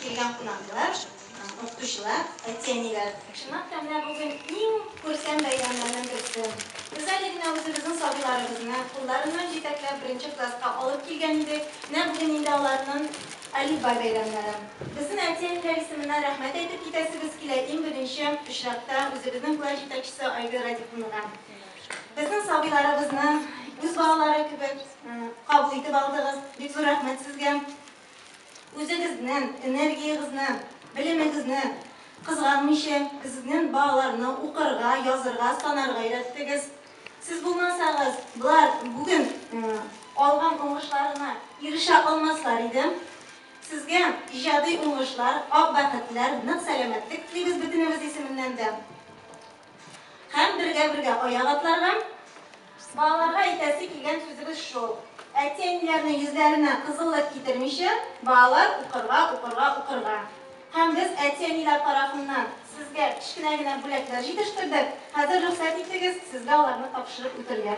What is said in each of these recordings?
Килгән кунаклар, укытучылар, әти-әниләр! Чынлап та, менә бүген иң күркәм бәйрәмнәрнең берсе. Без әле генә үзебезнең сабыйларыбызны, кулларыннан җитәкләп, беренче класска алып килгән идек, менә бүген инде аларның Әлифбай бәйрәмнәре. Безнең әти-әниләр исеменнән рәхмәт әйтеп китәсебез килә, иң беренче очракта, үзебезнең класс җитәкчесе Айгөл Радиковнага. Безнең сабыйларыбызны үз балалары кебек кабул итеп алдыгыз, бик зур рәхмәт сезгә! Үзегезнен энергиягезне, белемегезне кызганмыйча, безнен балаларны укырга, язырга, санарга өйрәттегез. Сез булмасагыз, болар бүген алган уңышларына ирешә алмаслар иде. Сезгә иҗади уңышлар, ак бәхетләр, нык сәламәтлек телибез бөтенебез исеменнән дә. Һәм бергә-бергә аяк атларга. Балаларга әйтәсе килгән сүзебез шул. Әти-әниләрнең йөзләренә кызыллык китермичә, балалар укырга, укырга, укырга. Һәм без әти-әниләр тарафыннан сезгә кечкенә генә бүләкләр җитештердек. Хәзер рөхсәт итегез, сезгә аларны тапшырып үтергә.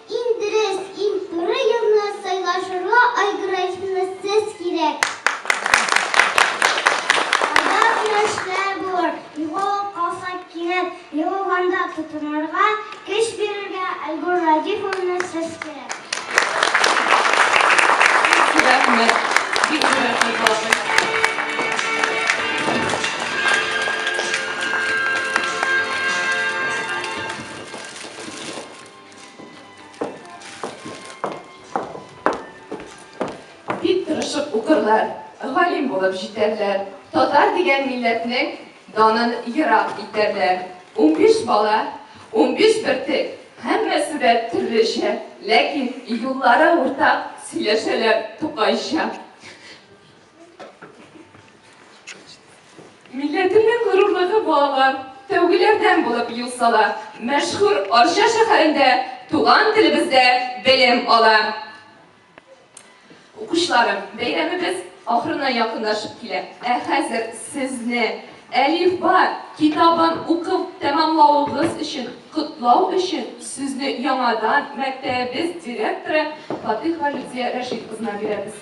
Иң дөрес, иң туры юлны сайлашырга Айгөл Рәхимовна сез кирәк! Алда зур эшләр булыр, югалып калсак кинәт, югалганда тотынырга, көч бирергә Айгөл Радифовна сез кирәк! Рәхмәт! Бик зур рәхмәт балакай! Бик тырышып укырлар, галим булып җитәрләр, татар дигән милләтнең данын ерак итәрләр. Унбиш бала, унбиш бөртек, һәммәсе дә төрлечә, ләкин юллары уртак, сөйләшәләр тукайча. Милләтемнең горурлыгы балалар, тәүгеләрдән булып юл сала, мәшһүр Арча шәһәрендә туган телебездә белем ала. Укучыларым, бәйрәмебез ахырына якынлашып килә. Ә хәзер сезне Әлифба китабын укып тәмамлавыгыз өчен котлау өчен сүзне яңадан мәктәбебез директоры Фатыйхова Людия Рәшит кызына бирәбез.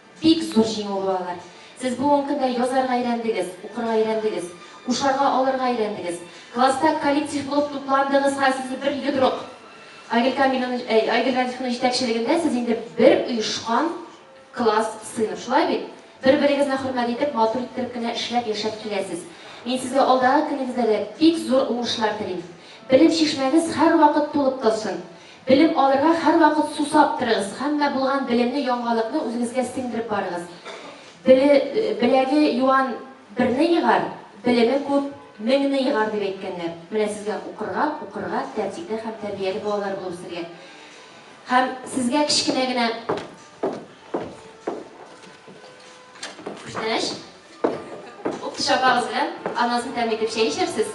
Бик зур җиңү бу алар. Сез бу ун көндә язарга өйрәндегез, укырга өйрәндегез, кушарга алырга өйрәндегез. Класста коллектив булып тупландыгыз һәм сез бер йодрык. Айгөл Камиловна, әй, Айгөл Радифовна җитәкчелегендә сез инде бер оешкан класс, сыйныф, шулай бит? Бер-берегезне хөрмәт итеп, матур иттереп кенә эшләп, яшәп киләсез. Мин сезгә алдагы көнегездә дә бик зур уңышлар телим. Белем чишмәгез һәрвакыт тулып торсын. Белем алырга һәрвакыт сусап торыгыз, һәммә булган белемне, яңалыкны үзегезгә сеңдереп барыгыз. Беле, беләге юан берне егар, белеме күп меңне егар дип әйткәннәр. Менә сезгә укырга, укырга, тәртипле һәм тәрбияле балалар булып үсергә. Һәм сезгә кечкенә генә күчтәнәч. Ул пычагыгыз белән анасын тәм итеп чәй эчәрсез.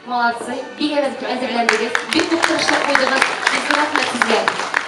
Молодцы. Бик әзерләндегез. Бик күп тырышлык куйдыгыз. Бик рәхмәт сезгә.